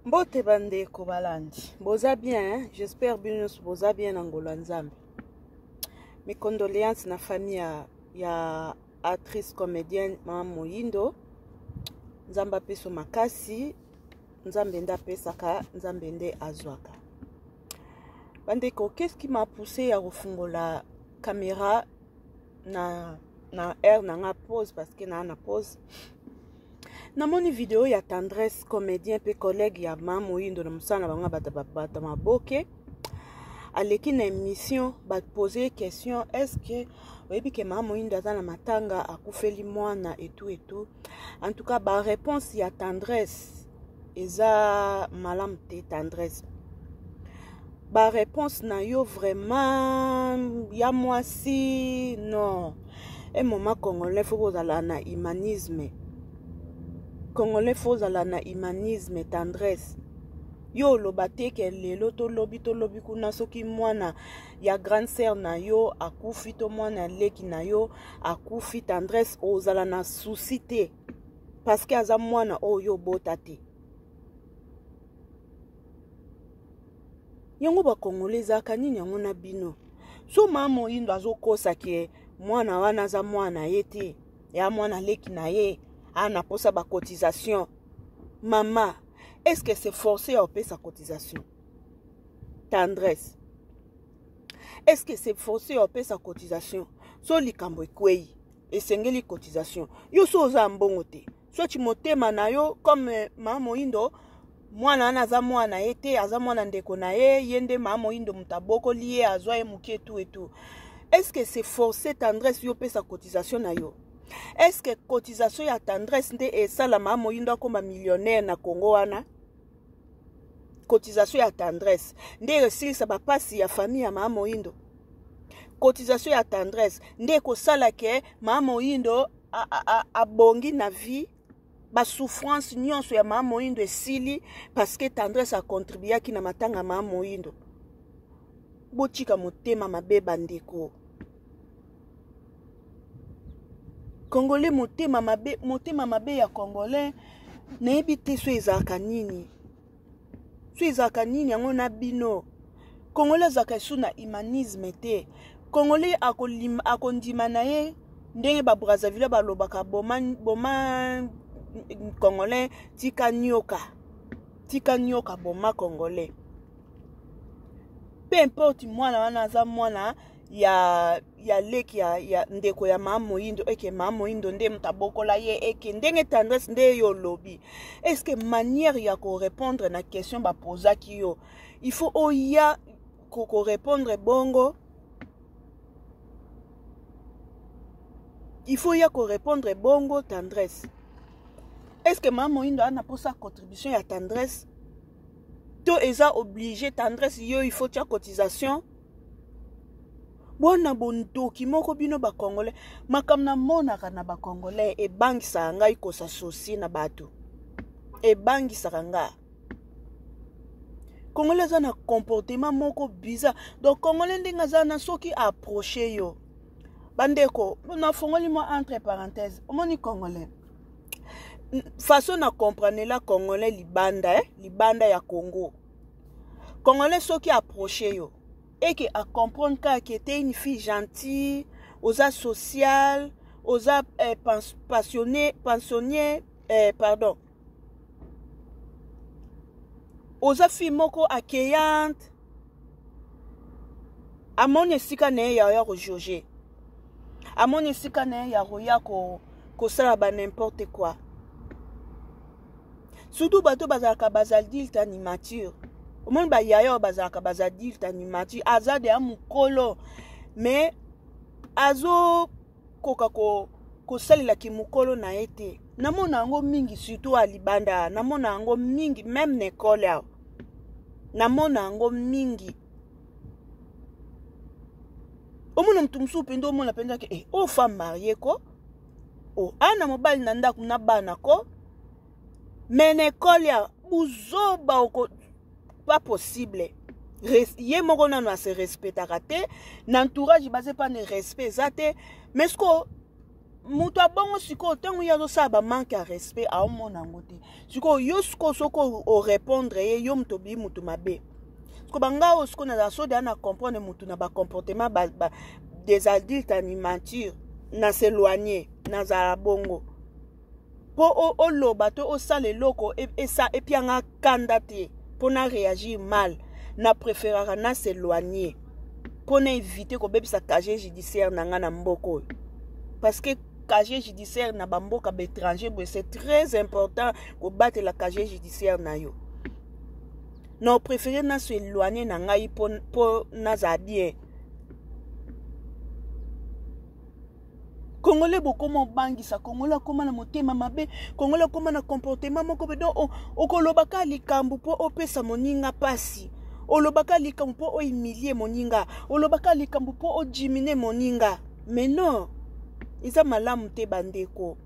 mbote bandeko balandi boza bien hein? j'espère bino nyonso boza bien na ngolo ya nzambe micondoléance na famille ya, ya actrice comédienne mama moyindo nzambe apeso makasi nzambe nde apesaka nzambe nde azwaka bandeko qu'est-ce qui m'a poussé ya kofungola caméra na na heure na nga pause parce que naa na pause namoni video ya tendresse comédien mpe collègue ya ma moyindo na mosala na bango bata babata maboke aleki na émission bapose ye question est-ce que oyebi ke ma moyindo aza na matanga akufeli mwana etou etou en tout cas baréponse ya tendresse eza malamu te tendresse bareponse na yo vraiment ya mwasi non e moma congolais fo kozala na humanisme congolais fo ozala na humanisme tendresse yo oloba te ke lelo tolobi tolobi kuna soki mwana ya grande sœur na yo akufi to mwana ya leki na yo akufi tendresse ozala na souci te parce que aza mwana oyo yo obota te yango bakongole ezalaka nini yango na bino so maa moyindo azokosa ke mwana wana aza mwana ye te ya mwana leki na ye ana posa bacotisation mama est ce que c'est forcé ya opesa cotisation tendresse est ce que c'est forcé ya opesa cotisation so likambo ekwei esengeli cotisation yo so oza mbongo te soki motema na yo comme eh, mama moyindo mwana wana aza mwana ye te aza mwana ndeko na ye ye nde mama moyindo moto abokoli ye azwa ye moke etu etu est ce que c'est forcé tendresse yo opesa cotisation na yo est ce que cotisation ya tendresse nde esalama moyindo akoma millionnaire na congo wana cotisation ya tendresse nde esilisa bapasi ya famille ya maa moyindo cotisation ya tendresse nde ekosala ke maa moyindo abongi na vie basouffrance nyonso ya maa moyindo esili parceke tendresse akontribuyaki na matanga maa moyindo botika motema mabe bandeko congolais motema mabe motema mabe ya congolais nayebi te so ezalaka nini so ezalaka nini yango na bino congolais azalaka esu na humanisme te congolais akondima na ye ndenge babrazzaville balobaka boma, boma congolais tika nioka tika nioka boma congolais peu importe mwana wana aza mwana ya ya leki ya, ya ndeko ya maa moyindo eke maa moyindo nde moto abokola ye eke ndenge tendresse nde yo olobi est ce que manière ya korépondre na question bapozaki yo il faut oya korépondre bongo il faut ya korépondre bongo tendresse est ce que maa moyindo ana mposa contribution ya tendresse to eza oblige tendresse yo il faut tya cotisation bona bondoki moko bino bacongolais makambo namonaka na bacongolais ebangisaka ngai kosa sosi na bato ebangisaka ngai congolais aza na comportement moko bizarre donc congolais ndenge aza na soki approche yo bandeko nafongoli mwa entre parenthèse omoni congolais façon na comprenela congolais libanda eh? libanda ya congo congolais soki approche yo eke acomprendre kaka ke te une fille gentille oza sociale oza eh, passionné pensionnier eh, pardon oza fille moko accueillante amoni esika na ye ya ya kojuge amoni esika na ye ya koya kosala ba n'importe quoi surtout bato bazalaka bazadulte animature omoni bayaya oyo bazalaka bazadulte animature aza deya mokolo mais azokoka ko, kosalela kimokolo na ye te namona yango mingi surtout alibanda namona yango mingi meme na ekole awa namona yango mingi omona motu mosusu mpenza omona mpenza ke eh, oyo femme marie ko oh, ana mobali na ndako na bana ko me na ekole ya buzoba oko pas possible ye moko nano ase respectaka te na entourage baza epa ne respect eza te mais sikoyo moto abongo sikoyo ntango ye azosala bamanke ya respect aomona yango te sikoyo yo sikoyo soki orépondre ye yo moto obii moto mabe siko banga oyo sikoyo nazala so deya na comprendre moto na bacomportement ba, ba, des adultes animature na s'éloigner nazala bongo mpo oloba to osala eloko e, esa epianga kanda te mpo na réagir mal na préféraka na s'éloigner mpo na éviter kobebisa casier judiciaire na ngai na mboka oyo parce que casier judiciaire na bamboka baétranger boye c'est très important kobatela casier judiciaire na yo na opréféré naso éloigne na ngai mpo nazala bien congolais bokoma obangisa congolais akoma na motema mabe congolais akoma na comportement moko be don okolobaka likambo mpo opesa moninga mpasi olobaka likambo mpo oimilie moninga olobaka likambo mpo ojimine moninga mais non eza malamu te bandeko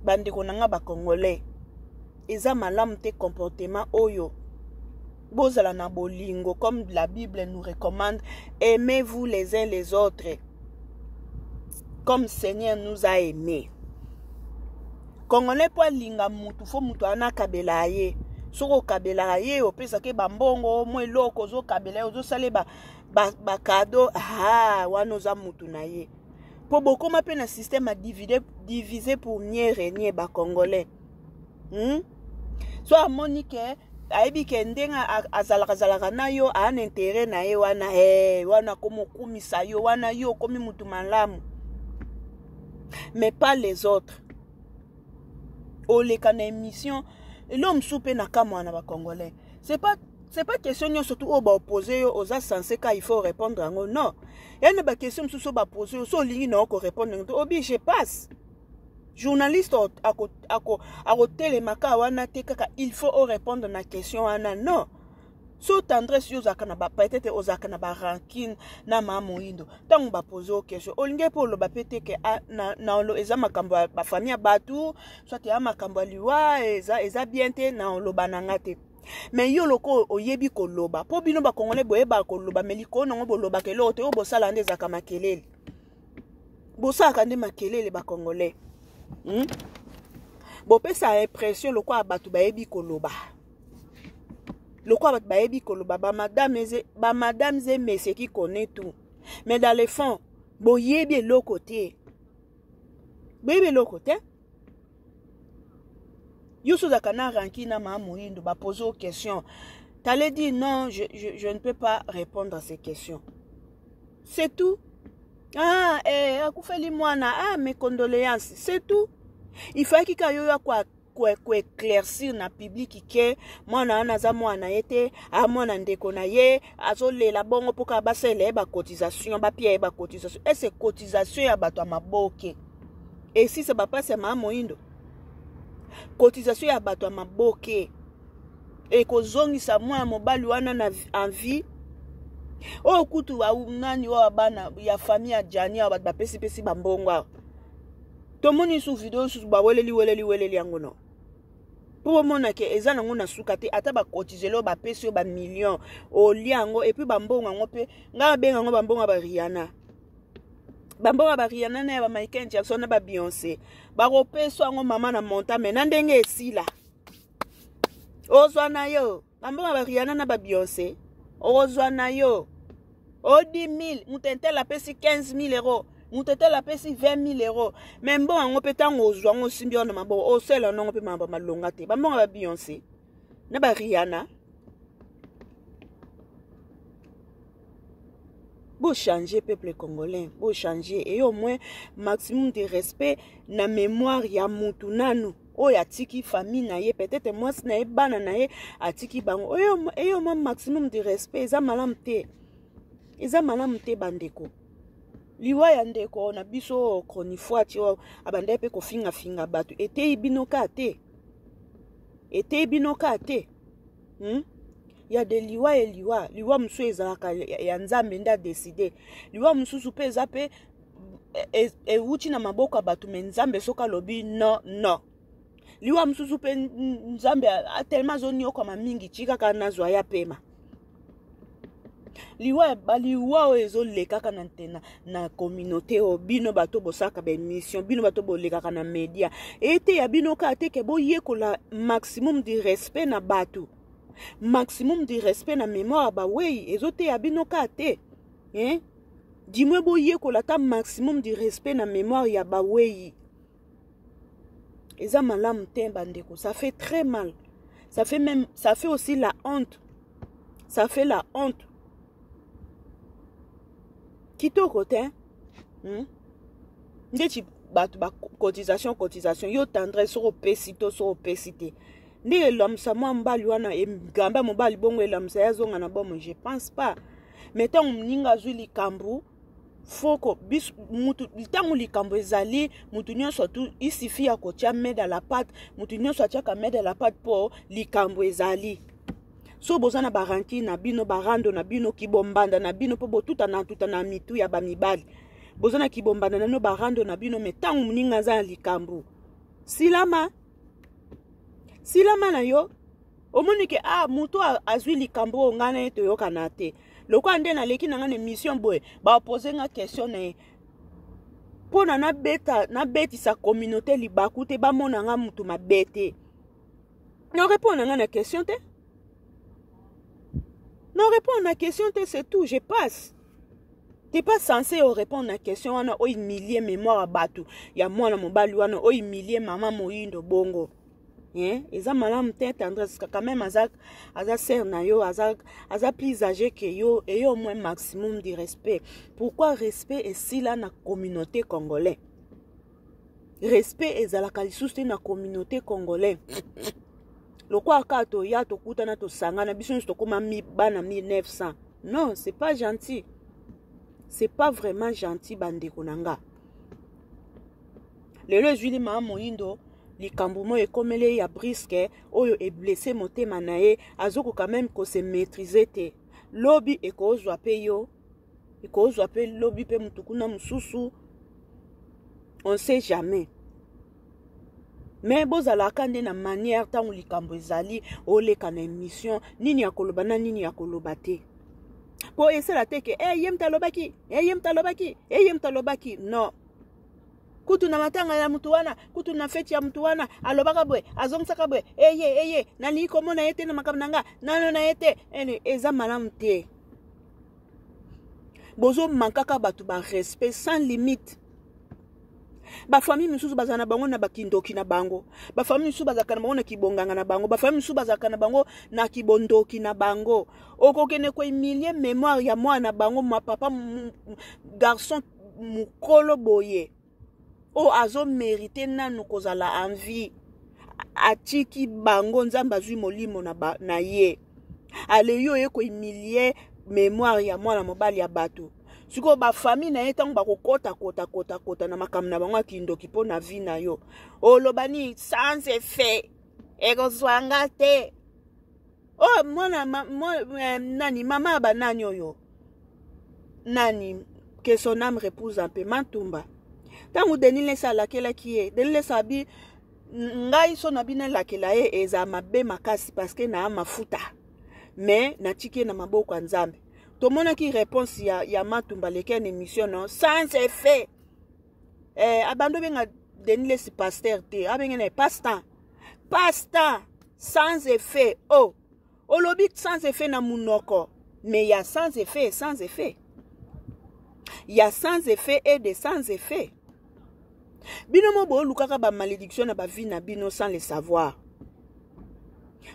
bandeko na nga bacongolais eza malamu te comportement oyo bozala na bolingo comme la bible nous recommande aimez vous les uns les autres comme seigneur nous a aimé congolais mpo alinga mutu fo mutu ana akabela ye soki okabelaka ye opesaki bambongo mwa eloko ozokabela ye ozosala ye bakado ba ah, wana oza mutu na ye mpo bokoma mpe na système ya divise pour mieux renie bacongolais hmm? so amoni ke ayebi ke ndenge azalaka zalaka na yo aa na intere na ye wana hey, eh, wana akomi okumisa yo wana yo okomi mutu malamu mais pas les autres oleka na émission eloo mosusu mpe na kamwa na bacongolais c'est pas c'est pas question nyonso tu oyo baopose yo oza sense ka il faut répondre yango non ya na baquestion mosusu oyo bapose yo so olingi na yo korépondre yango te obi je passe journaliste akotelemaka wana te kaka il faut orépondre na question wana non so tendresse yo ozalaka na bapetete ozalaka na barankine na maa moyindo ntango bapoze o question olingi mpe oloba mpe te ke ah, na, na, eza makambo ya bafamille ya bato soit ya makambo ya liwa eza, eza bien te na oloba na nga te me yo loko oyebi koloba mpo bino bakongole boyebaka koloba me likolo nango bolobaka eloko te oyo bosalaka nde ezalaka makelele bosalaka nde makelele bakongolais hmm? bopesa impression lokola bato bayebi koloba lokola bato bayebi koloba bamadame eze bamadame ze mese qui connaît tout mais dans le fond boyebi eloko te boyebi eloko te yo so ozalaka na ranki na maa moyindo bapose o question tale dit non je, je, je ne peux pas répondre à ces questions c'est tout ah eh, akufeli mwana ah mes condoléances c'est tout il fallaki ka yo yo akwa koeclaircir na publiki ke mwana wana aza mwana na ye te a mwana ndeko na ye azolela bongo mpo kaka basalela ye bacotisation bapia ye bacotisation ese cotisation ya bato ya maboke esisa bapasi ya maa moindo cotisation ya bato ya maboke ekozongisa mwana mobali wana na envie oyo kutu nani oyo bana ya famille ya jani awa bato bapesipesi bambongo awa tomoni su video susu baweleli weleli weleli yango no mpo bomona ke eza nango na suka te ata bakotizeli oyo bapesi yo bamillion olia yango epuis bambongo yango mpe ngai abenga yango bambongo ya bariana bambongo ya bariana na ya bamichael jackson na babeyonce bakopesa yango mama na monta me na ndenge esila ozwa na yo bambongo ba riana na ba beyonce okozwa na yo odi 1000 moto entele apesi 15000 euro moto etele apesi 20000 euro me mbongo yango mpe ntango ozwa yango osimbi yango na maboko osala yango mpe maba malonga te bambongo ba beyonce na ba riana bochange peuple congolais bochange et au moins maximum de respect na mémoire ya mutu nanu oyo atiki famille na ye peut-être mwasi na ye bana na ye atiki bango oyo eyo mwa maximum de respect eza malamu te eza malamu te bandeko liwa ya ndeko na biso chronifuati oyo abandaki mpe kofingafinga bato eteyi bino ka te eteyi bino ka te hmm? ya de liwa ye liwa liwa mosusu ezalaka ya nzambe nde adeside liwa mosusu mpe eza mpe e, ewuti na maboko ya bato me nzambe soki alobi no no liwa mosusu mpe nzambe telema azoniokwama mingi tikaka nazwa ya pema liwa baliwa oyo ezolekaka na, na, na communauté oyo bino bato bosalaka baémission bino bato bolekaka na média eteya bino kaka te ke boyekola maximum du respect na bato maximum du respect na mémoire bawei ezoteya bino kaka te eh? dimwe boyekola ata maximum du respect na mémoire ya baweyi eza malamu te bandeko ça fait très mal ça fait même ça fait aussi la honte ça fait la honte kitoko te hmm? ndeti bato bacotisation cotisation yo tendresse soki opesi to soki opesi te ndenge elamwisa mwa mobali wana egamba mobali bongo elamwisa ye azonga na bomo je pense pas me ntango moninga azwi likambo foko biso mutu ntango likambo ezali mutu nyonso tu isifi ya kotya mede la pate mutu nyonso atyaka mede la pate mpo likambo ezali so boza na baranki na bino barando na bino kibombanda na bino mpo botutana tuta na mitu ya bamibali boza na kibombanda na bino barando na bino me ntango moninga aza na likambo silama silama na yo omoni ke ah moto azwi likambo oyo ngai na ye toyokana te lokola nde naleki na ngai na émission boye baopose nga question na ye mpo na nabeta nabetisa communauté libaku te bamona nga motu mabe te norepondre nga na question te norepondre na question te c'est tout je passe t'es pas censé orépondre na question wana ohumilie mémoire ya bato ya mwana mobali wana ohumilie mama moyindo bongo eh, eza malamu te tendresse parce que quand même aza aza sœur na yo aza aza plus âgé que yo et yo au moins maximum du respect pourquoi respect esila na communauté congolais respect ezalaka lisusu te na communauté congolais lokola kaka toya tokutana tosangana biso nyonso tokóma bana 1900 non c'est pas gentil c'est pas vraiment gentil bandeko na nga lelo ezwili maa moyindo likambo moko ekomeli ye ya briske oyo eblesse motema na ye azokoka meme kose maîtrise te lobi ekozwa mpe yo ekozwa mpe lobi mpe motu kuna mosusu on sait jamais me bozalaka nde na manière ntango likambo ezali oleka na émission nini ya koloba na nini ya koloba te mpo esala te ke eye eh, moto alobaki eye eh, moto alobaki eye eh, moto alobaki non kutu na matanga ya motu wana kutu na feti ya motu wana alobaka boye azongisaka boye eye eye nalingi komona ye te na makambo na nga nano na ye te ene eza malamu te bozomankaka bato barespect sans limite bafamille mosusu bazala na bango na bakindoki na bango bafamille mosusu bazalaka na bango na kibonganga na bango bafamille mosusu bazalaka na bango na kibondoki na bango okokende koemilie memoire ya mwana na bango mapapa garçon mukolo boye oyo oh, azo merite nanu kozala en vie atiki bango nzambe azwi molimo na, ba, na ye aleyi oye kohumilie memoire ya mwana mobali ya bato sikoyo bafamille na ye ntango bakokota kota kota kota na makambo na bango ya kindoki mpo na vie na yo oloba nini sans effet ekozwa nga te oh mwana ma, mo, eh, nani mama ya banani oyo nani que son âme repose en paix matumba ntango denis lesa alakelaki ye denis lesa abi ngai so na bino elakela ye eza mabe makasi parceke na ya mafuta me natiki ye na maboko ya nzambe tomonaki réponse ya, ya matumba leki ya na émission no sans effet eh, abandi obenga denis lesi paster te abenge na ye passe temps pasta sans effet oh olobi sans effet na munoko mais ya sans effet et sans effet ya sans effet et de sans effet bino mo bolukaka ba malédiction na ba vie na bino sans le savoir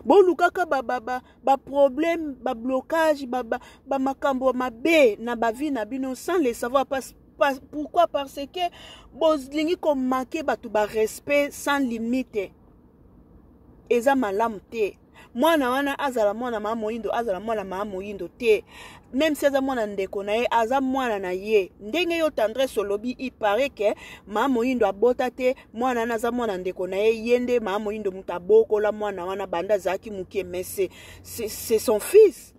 bolukaka baproblème ba, ba, ba, ba bablocage bamakambo ba, ba mabe na bavi na bino sans le savoir parce pourquoi parce que bolingi komake bato barespect sans limite eza malamu te mwana wana azala mwana maa moyindo azala mwana maa moyindo te meme si aza mwana ndeko na ye aza mwana na ye ndenge yo tendresse olobi ipare ke maa moyindo abota te mwana wana aza mwana ndeko na ye ye nde maa moyindo moto abokola mwana wana banda azalaki moke mais c'est son fils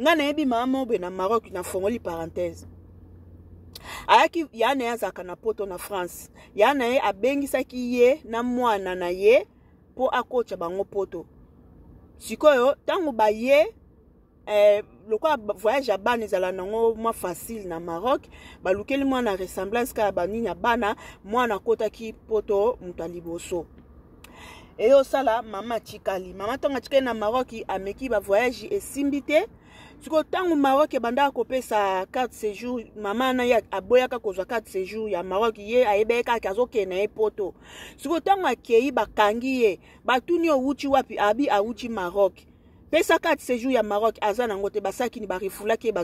nga nayebi mama moko boye na maroc nafongoli parenthèse ayaki ya na ye azalaka na poto na france ya na ye abengisaki ye na mwana na ye mpo akotya bango poto sikoyo ntango baye eh, lokola voyage ya bana ezala nango mwa facile na maroc balukeli mwana ressemblance kaka banini ya bana mwana akotaki poto moto ya liboso eye osala mama atikali mama ntango atikali na maroc ameki bavoyage esimbi te sikoyo ntango maroc ebandaka kopesa carte séjour mama na ye aboyaka kozwa carte séjour ya maroc ye ayebaki kaka azokende na ye poto sikoyo ntango akei bakangi ye batuni owuti wapi abi awuti maroc pesa carte séjour ya maroc aza nango te basakini barefulaki ye